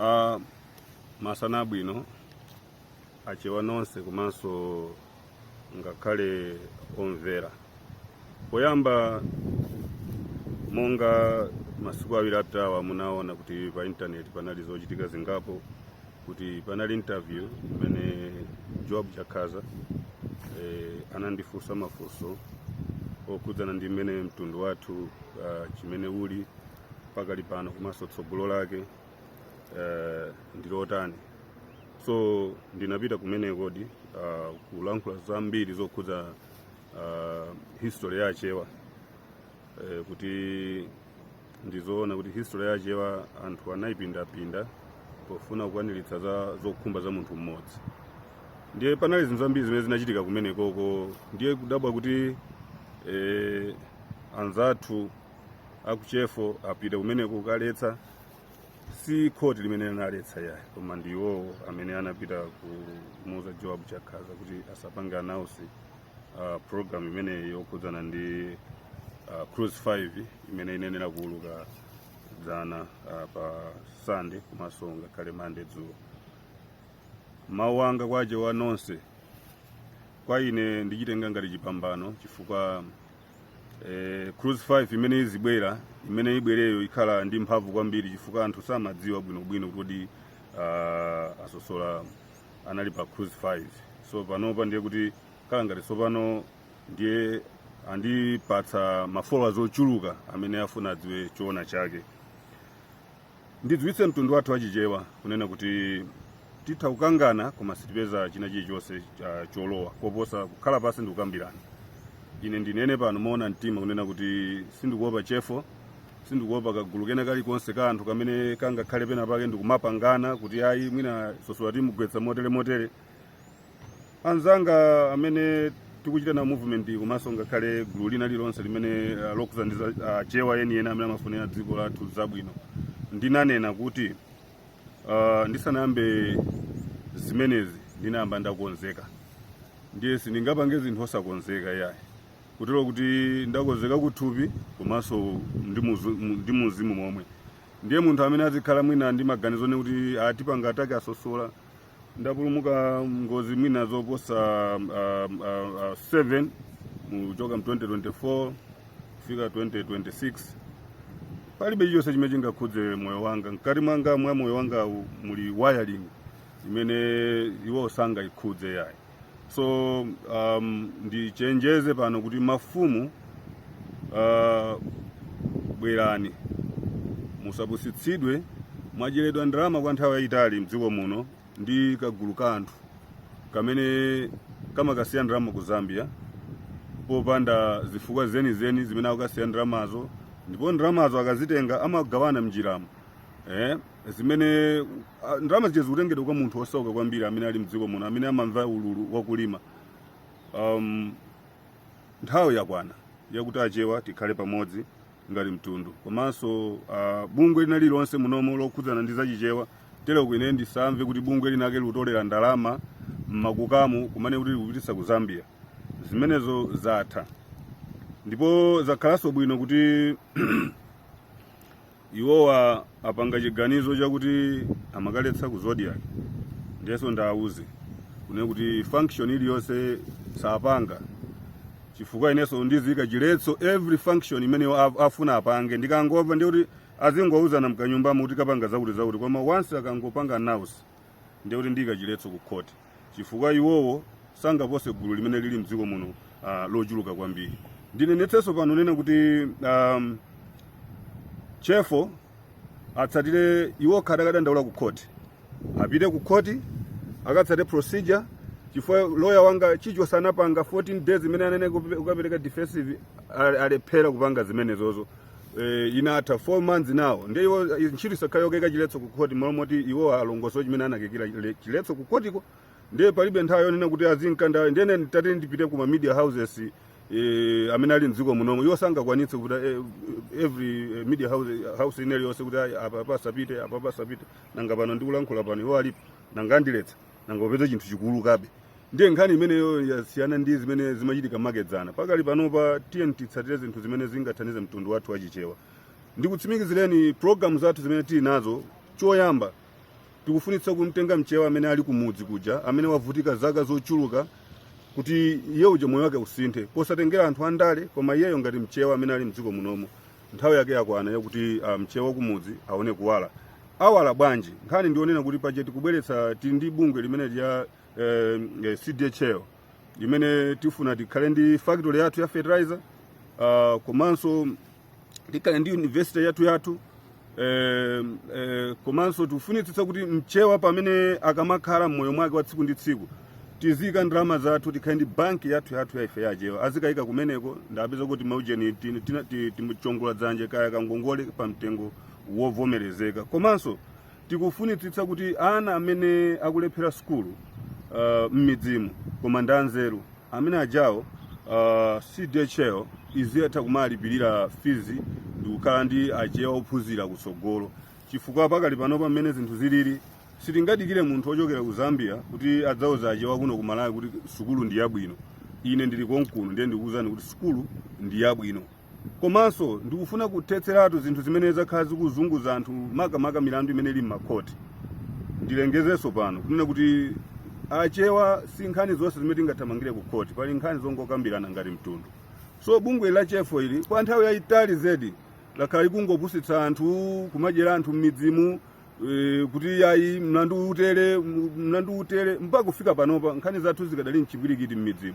Ah, masana abwino achewa nonse komanso ngakhale omvera poyamba monga masiku awiri apitawa munaona kuti pa intaneti panali zochitika zingapo kuti panali interview imene Joab Chakhaza eh, anandifunsa mafunso okhudzana ndi mmene mtundu wathu ah, chimene uli pakali pano komanso tsogolo lake eh, ndi lotani so ndinapita kumeneko di uh, kulankhula zambiri zokhudza uh, history ya achewa eh, kuti ndizoona kuti history ya achewa anthu anayipindapinda pofuna kukwaniritsa zokhumba za munthu mmodzi ndiye panali zinthu zambiri zimene zinachitika kumenekoko ndiye kudabwa kuti eh, anzathu aku CHEFO apita kumene kukaletsa si khoti limene linaletsa yayi koma ndi iwowo amene anapita kumuuza Joab Chakhaza kuti asapange announce uh, program imene yokhudzana ndi uh, cruise 5 imene inenera kuuluka dzana uh, pa sunday komanso ngakhale Monday dzulo mawu anga kwa achewa nonse kwa ine ndichitenga ngati chipambano chifukwa eh, cruise 5 imene izibwera imene ibwereyo ikhala ndi mphamvu kwambiri chifukwa anthu samadziwa bwinobwino kuti uh, a Sosola anali pa cruise 5 so panopa ndiye kuti khala ngati tsopano ndiye andipatsa ma followers ochuluka amene afuna adziwe choona chake ndidziwitse mtundu wathu wa chichewa kunena kuti titha kukangana koma sitipeza china chilichonse uh, cholowa koposa kukhala pansi ndi kukambirana ine ndinene pano moona mtima kunena kuti sindikuopa CHEFO sindikuopa kagulu kena kalikonse ka anthu kamene kangakhale pena pake ndikumapangana kuti ayi mwina Sosola timugwetsa motere motere anzanga amene tikuchita nawo movement komanso ngakhale gulu lina lilonse limene ah, lokuzandiza ah, chewa yeniyeni amene amafunira dziko lathu zabwino ndinanena kuti ah, ndisanayambe zimenezi ndinayamba ndakonzeka ndiye sindingapange zinthu osakonzeka yayi kutero kuti ndakonzeka kuthupi komanso ndi muzu- mu- ndi muuzimu momwe ndiye munthu amene azikhala mwina ndi maganizo ne kuti atipanga attack a Sosola ndapulumuka ngozi mwina zoposa uh, uh, uh, 7 kuchoka mu 2024 kufika 2026 palibe chilichonse chimene chingakhudze moyo wanga mkati mwanga mwa moyo wanga muli wiring imene iwo sangayikhudze yayi so um, ndichenjeze pano kuti mafumu uh, bwerani musapusitsidwe mwadyeredwa ndalama kwa nthawi yayitali m'dziko muno ndi kagulu ka anthu kamene kamakasiya ndalama ku zambia popanda zifukwa zenizeni zimene akukasiya ndalamazo ndipo ndalamazo akazitenga amagawana mnjiramo eh? zimene ah, ndalama zija zikutengedwa kwa munthu osauka kwambiri amene ali mdziko muno amene amamva ululu wakulima um, nthawi yakwana yakuti achewa tikhale pamodzi ngati mtundu komanso uh, bungwe lina lililonse munomo lokhudzana ndi zachichewa tero kwine ndisamve kuti bungwe linake likutolera ndalama m'makukamu kumene kuti likupititsa ku zambia zimenezo zatha ndipo zakhalanso bwino kuti iwowa apanga chiganizo chakuti amakaletsa ku zodiac ndiyenso ndiwauze kunena kuti function iliyonse sapanga chifukwa inenso ndiziika chiletso every function imene iwo af- afuna apange ndikangomva ndiye kuti azingowuzana mkanyumbamo kuti tikapanga zakuti zakuti koma once akangopanga announce ndiye kuti ndiyika chiletso ku court chifukwa iwowo sangapose gulu limene lili mdziko muno uh, lochuluka kwambiri ndinenetsenso pano kunena kuti um, chefo atsatire iwo akadakadandaula ku khoti apite ku khoti akatsate procedure chifukwa loya wanga chichosa anapanga 14 days imene ananena kukapereka defensive alephera kupanga zimenezozo eh, inatha 4 months now ndiye iwo eh, ntchito isakhale yokaika chiletso ku khoti malo moti iwo alongosole chimene anakaikira chile- chiletso ku khotiko ndiye palibe nthawi yonena kuti azinkanda ndiye ine nditati ndipite ku ma media houses eh, amene ali mdziko munomo iwo sangakwanitse kuti eh, every eh, media house, house ina iliyonse kuti ayi, apa pasapite apa pasapite nanga pano ndikulankhula pano iwo alipo nanga andiletsa nanga upeze chinthu chikuulukabe ndiye nkhani imeneyo yasiyana ndi zimene zimachitika makedzana pakali panopa tiyeni titsatire zinthu zimene zingathandize mtundu wathu wachichewa ndikutsimikizireni programu zathu zimene tili nazo choyamba tikufunitsa kumtenga mchewa amene ali kumudzi kuja amene wavutika zaka zochuluka kuti iye uja moyo wake usinthe posatengera anthu andale koma iyeyo ngati mchewa amene ali mdziko munomo nthawi yake yakwana yakuti ah, mchewa wa kumudzi aone kuwala awala bwanji nkhani ndi yonena kuti paja tikubweretsa tili ndi bungwe limene lija la eh, eh, cdhl limene tifuna tikhale ndi factory yathu ya fertilizer ah, komanso tikhale ndi university yathu yathu eh, eh, komanso tifunitsitsa kuti mchewa pamene akamakhala mmoyo mwake wa tsiku ndi tsiku tiziyika ndalama zathu tikhale ndi banki yathu yathu ya ife achewa azikayika kumeneko ndapeza kuti maujeni ti- tina- ti- timuchongola mnzanje kaya kangongole pa mtengo wovomerezeka komanso tikufunitsitsa kuti ana amene akulephera sukulu uh, m'midzimu koma ndi anzeru amene ajawo uh, cdhl iziyatha kumalipirira fizi ndikukhala ndi achewa ophunzira kutsogolo chifukwa pakali panopa mmene zinthu zilili Sitingadikire munthu ochokera ku Zambia kuti adzauze achewa kuno ku Malawi kuti sukulu ndi yabwino. Ine ndili konkuno ndiye ndikuwuzani kuti sukulu ndi yabwino. Komanso ndikufuna kuthetseratu zinthu zimene zakhala zikuzunguza anthu makamaka milandu imene ili m'makhoti. Ndilengezenso pano kunena kuti achewa si nkhani zonse zimene tingathamangire ku khoti, pali nkhani zongokambirana ngati mtundu. So bungwe ili la chefo ili kwa nthawi yayitali zedi lakhala likungopusitsa anthu, kumadyera anthu m'midzimu, e, kuti yayi mlandu utere mlandu utere mpaka kufika panopa nkhani zathu zikadali mchipwirikiti mmidzimu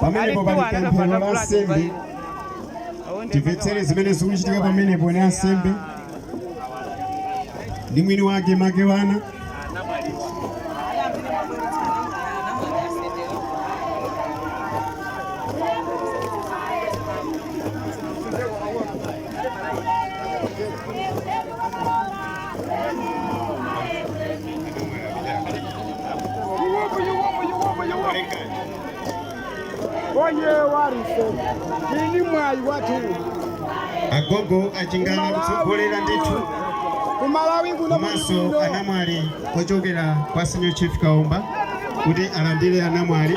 pamenepo pali pemphero la nsembe timvetsere zimene zikuchitika pamenepo ndi ansembe ndi mwini wake Makewana Oye warise ini mwayi wathu agogo achingana kutsogolera ndithu kumalawi kuno komanso anamwali ochokera kwa senior chief kaomba kuti alandire anamwali